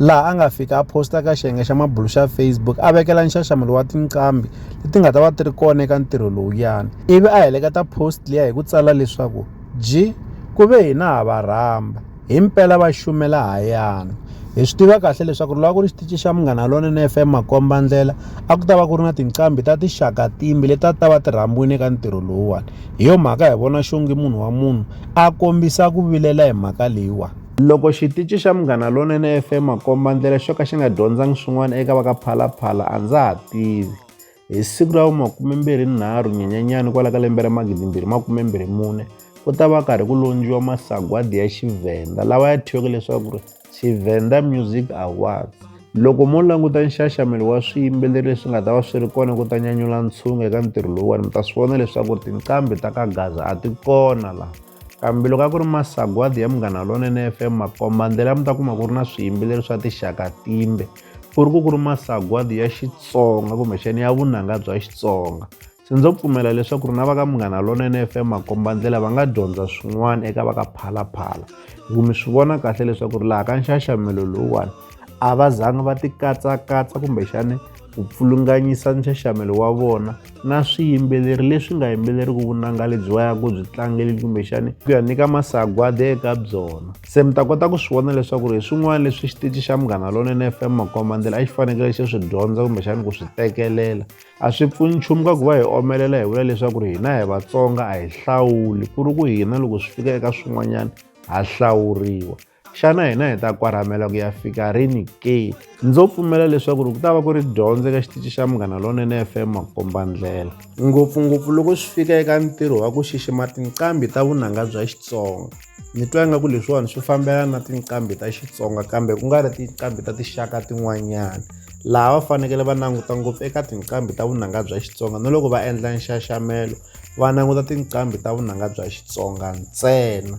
laha a nga fika a posta ka xiyenge xa mabulu xa facebook a vekela nxaxamelo wa tinqambi leti nga ta va ti ri kona eka ntirho lowuyani ivi a heleketa post liya hi ku tsala leswaku ji ku ve hina ha va rhamba hi mpela va xumela hayana hi swi tiva kahle leswaku ri loko ku ri xitici xa munghana lonene f m makomba ndlela a ku ta va ku ri na tinqambi ta tixaka timbi leti a ti ta va ti rhambiwile eka ntirho lowuwani hi yo mhaka hi vona xongi munhu wa munhu a kombisa ku vilela hi mhaka leyiwani Loko xitici xa Munghana Lonene FM Makombandlela xo ka xi nga dyondzangi swin'wana eka va ka Phalaphala a ndza ha tivi. Hi siku ra vu-23 Nyenyenyani kwala ka lembe ra 2024 ku ta va karhi ku londziwa masagwadi ya Xivhenda lawa ya thyiweke leswaku ri Xivhenda Music Awards. Loko mo languta nxaxamelo wa swiyimbeleri leswi nga ta va swi ri kona ku ta nyanyula ntshungu eka ntirho lowuwani mi ta swi vona leswaku tinqambi ta ka Gaza a ti kona laha. kambe loko a ku ri masagwadi ya munghana lonene fm makombandlela mi ta kuma ku ri na swiyimbeleri swa tixaka timbe ku ri ku ku ri masagwadi ya xitsonga kumbexani ya vunanga bya xitsonga se ndzo pfumela leswaku ri na va ka munghana lonene fm makombandlela va nga dyondza swin'wana eka va ka phalaphala hi ku mi swi vona kahle leswaku ri laha ka nxaxamelo lowuwani a va zanga va ti katsakatsa kumbexani ku pfulunganyisa nxaxamelo wa vona na swiyimbeleri leswi nga yimbeleriku vunanga lebyi va yaku byi tlangeli kumbexani ku ya nyika masagwadi eka byona se mi ta kota ku swi vona leswaku ri hi swin'wana leswi xitici xa munghana lonene fm makombandlela a xi fanekele xi swi dyondza kumbexani ku swi tekelela a swi pfuni nchumu ka ku va hi omelela hi vula leswaku ri hina hi vatsonga a hi hlawuli ku ri ku hina loko swi fika eka swin'wanyana ha hlawuriwa xana hina hi ta kwarhamela ku ya fika rini ke ndzo pfumela leswaku ri ku ta va ku ri dyondzo eka xitici xa munghana lonene fm makombandlela ngopfungopfu loko swi fika eka ntirho wa ku xixima tinqambi ta vunanga bya xitsonga ni twa ingaku leswiwani swi fambelana na tinqambi ta xitsonga kambe ku nga ri tinqambi ta tinxaka tin'wanyana laha va fanekele va languta ngopfu eka tinqambi ta vunanga bya xitsonga na loko va endla nxaxamelo va languta tinqambi ta vunanga bya xitsonga ntsena